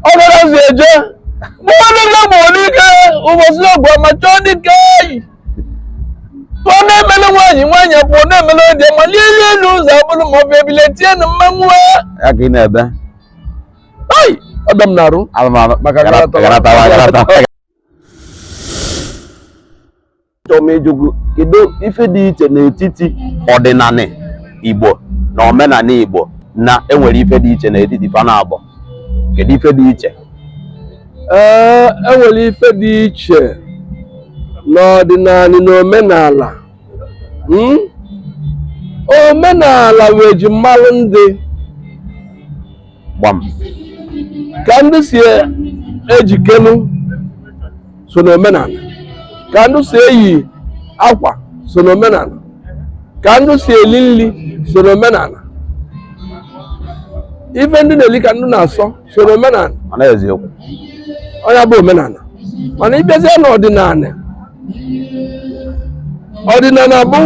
ọbara si eje mmadụ ga bụ n'ike ụbọchị ọgụ ma chọọ dike eyi ọ na-emele nwaanyị nwaanyị pụọ na-emele dị ma n'elu elu ụzọ abụrụ ma ọ bụ ebile tie na mmanwụ ya ka ị na-ebe ai ọdọ m na-arụ alụmalụ Maka Achọrọ m ịjụ gị kedu ife dị iche n'etiti ọdịnala Igbo na omenala Igbo na enwere ife dị iche n'etiti fa naabọ kedu ife dị iche ee enwere ife dị iche n'ọdịnala na omenala Mm? omenala bụ ejimalụ ndị gbam ka ndị si ejikelu so n'omenala ka ndị si eyi akwa so n'omenala ka ndị si eli nri so n'omenala ife ndị na-eli ka ndị na-asọ so n'omenala mana eziokwu ọ nya bụ omenala mana ị bịazie n'ọdịnala ọdịnala bụ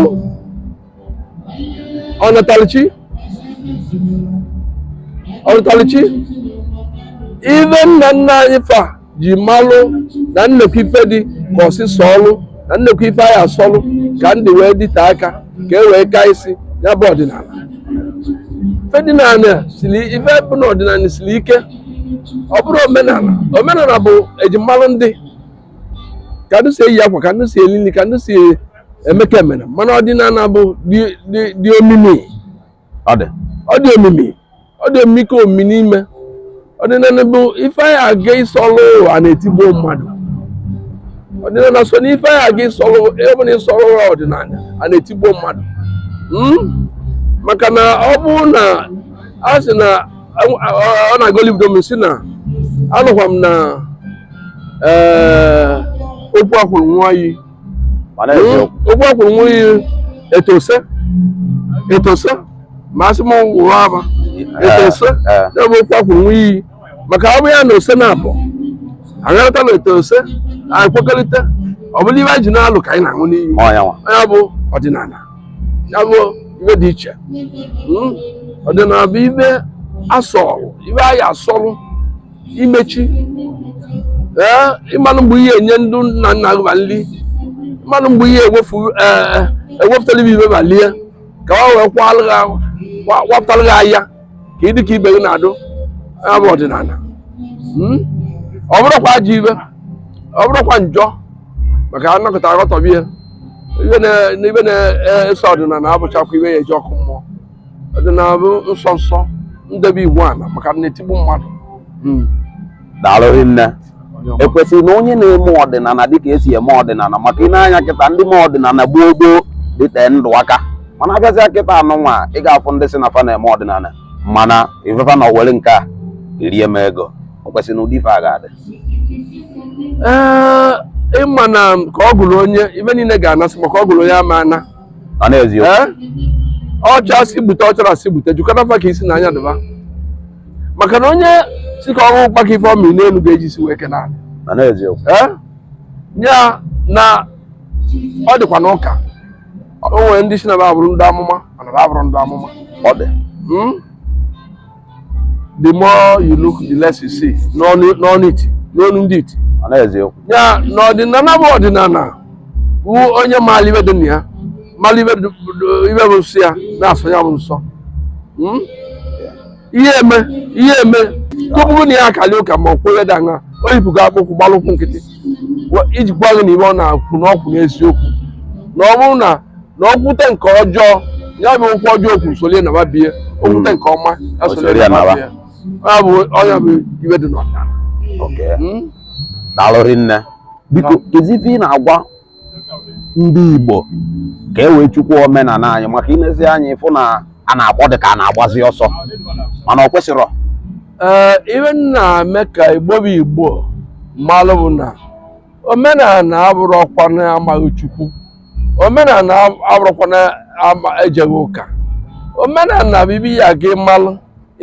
ọnatalụchi ọnatalụchi ife nna nna anyị fa ji malụ na nnekwu ife dị ka ọsịsọ ọlụ na nnekwu ife a ya-asọlụ ka ndụ wee dịte aka ka e wee ka isi ya bụ ọdịnala ife dị n'ala siri ife bụ na ọdịnala siri ike ọ bụrụ omenala omenala bụ ejimalụ ndị ka ndị si eyi akwa ka ndị si eli nri ka ndị si Emeka emere mana ọdịnala bụ dị omimi ọ dị omimi ọ dị omimi ka omimi n'ime ọdịnala bụ ife anyị aga ịsọlụ a na-etigbu mmadụ ọdịnala so n'ife anyị aga ịsọlụ ọ bụ na ị sọrọ ọdịnala a na-etigbu mmadụ hmm? maka na ọ bụ na a sị na ọ na-agolibido m si na anụkwa m na eh, okwu e kwuru ṅụa iyi mana Ee, eziokwu okwu e kwuru ṅụa iyi etose etose ma asị m wụrụ aba etose ee. ya bụ okwu e kwuru ṅụa iyi maka ọ bụ ya na ose na-abụ agharịta na etose anyị kwekọrịta ọ bụlụ ife anyị ji na-alụ ka anyị na-aṅụ n'iyi ma ọ nya nwa ya bụ ọdịnala ya bụ ife dị iche Mm. ọdịnala bụ ife a sọlụ ife a ya-asọlụ imechi ee ị malụ mgbe ị ya-enye ndị nna nna gị ma nri ị malụ mgbe ị ya-ewefu ee ewepụtara ibe ife ba lie ka ọ wee kwalụ gị ahụ- kwa- kwapụtara gị ahịa ka ị dị ka ibe gị na-adị ya bụ ọdịnala Mm? ọ bụrọkwa ajọ ife ọ bụrọkwa njọ maka a nọkata aghọtahie ife na- na ibe na-eso ọdịnala abụchakwa ife ya eji ọkụ mmụọ ọdịnala bụ nsọ nsọ ndebe iwu ala maka na-etigbu mmadụ hmm. daalụ rinne o kwesịrị na onye na-eme ọdịnala dịka e si eme ọdịnala maka i nee anya kịta ndị mee ọdịnala gboo gboo dịte ndụ aka mana a bịazịa kịta a nọ nwa ị ga-afụ ndị sị na fa na-eme ọdịnala mana ife fa na-ewere nke a erie m ego o kwesịrị na ụdị ife a ga-adị ị ma na ka ọ gụrụ onye ibe niile ga-anasị maka ọ gụrụ onye ọ ma-ana ọ n'eziokwu. Ee? ọ chaa sị gbute ọ charọ sị gbute jụkọta fa ka isi na anya dị ba maka na onye sị ka ọ wọ ụkpaka ife ọ mị n'elu ga-eji isi wee kee n'ana ọ n'eziokwu. ee ya na ọ dịkwa n'ụka o nwere ndị sị na ba abụrụ ndị amụma mana ba abụrọ ndị amụma ọ dị Mm? the more you look the less you see n'ọnụ n'ọnụ iti n'ọnụ ndị iti ọ n'eziokwu ya na ọdịnala bụ ọdịnala bụ onye maara ibe dị na ya mara ibe dị- dị- ibe bụ nsọ ya na-asọ ya bụ nsọ Mm? ihe e me ihe e me tupu na ya akali ụka ma ọ kwere dị aṅa o yipụgo akpụkwụ gbalụ ụkwụ nkịtị Wa- iji gwa gị na ibe ọ na-akwụ na ọ kwụ n'eziokwu na ọ bụrụ na na o kwute nke ọjọọ ya bụ okwu ọjọọ o kwuru solie naba bie o kwute nke ọma ya O solie solie naba nawa. bie ya bụ ọ nya bụ ibe dị n'ọdịnala Okay. Mm. daalụ rinne biko kezi ife ị na-agwa ndị igbo ka e wee chekwaa omenala anyị maka i lezie anya ị fụ na a na-agba ọ dị ka a na-agbazi ọsọ mana ọ kwesịrọ ee ibe na-eme ka igbo bụ igbo malụ bụ na omenala abụrọkwana amaghị chukwu omenala abụrọkwana ama ejeghị ụka omenala bụ ibe ya ga ịmalụ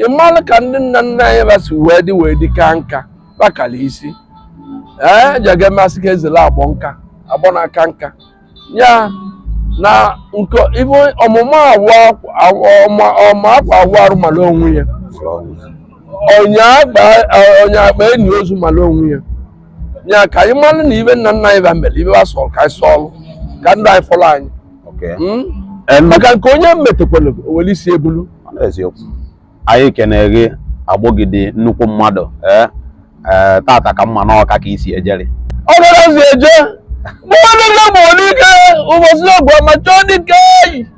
ịmalụ ka ndị nna nna anyị ba si wee dị wee dị ka nka bakala isi ee ejeghị masị ka e zele agbọ nka agbọ na aka nka ya na nke ibe ọmụma awụ ọma ọma akwa awụ arụ mara onwe ya ọnya akpa ọnya akpa eni ozu mara onwe ya ya ka anyị malụ na ibe nna nna anyị ba mere ibe ba sọrọ ka anyị sọọlụ ka ndụ anyị fọrọ anyị Okay. Mm? Em, maka nke onye metekwala o were isi e bulu ọ n'eziokwu anyị kene gị Agbogidi nnukwu mmadụ ee ee tata ka mma n'ọka ka isi ejeri ọ garazi eje mmadụ gbuo dike ụbọchị ọgụ ama a chọọ dike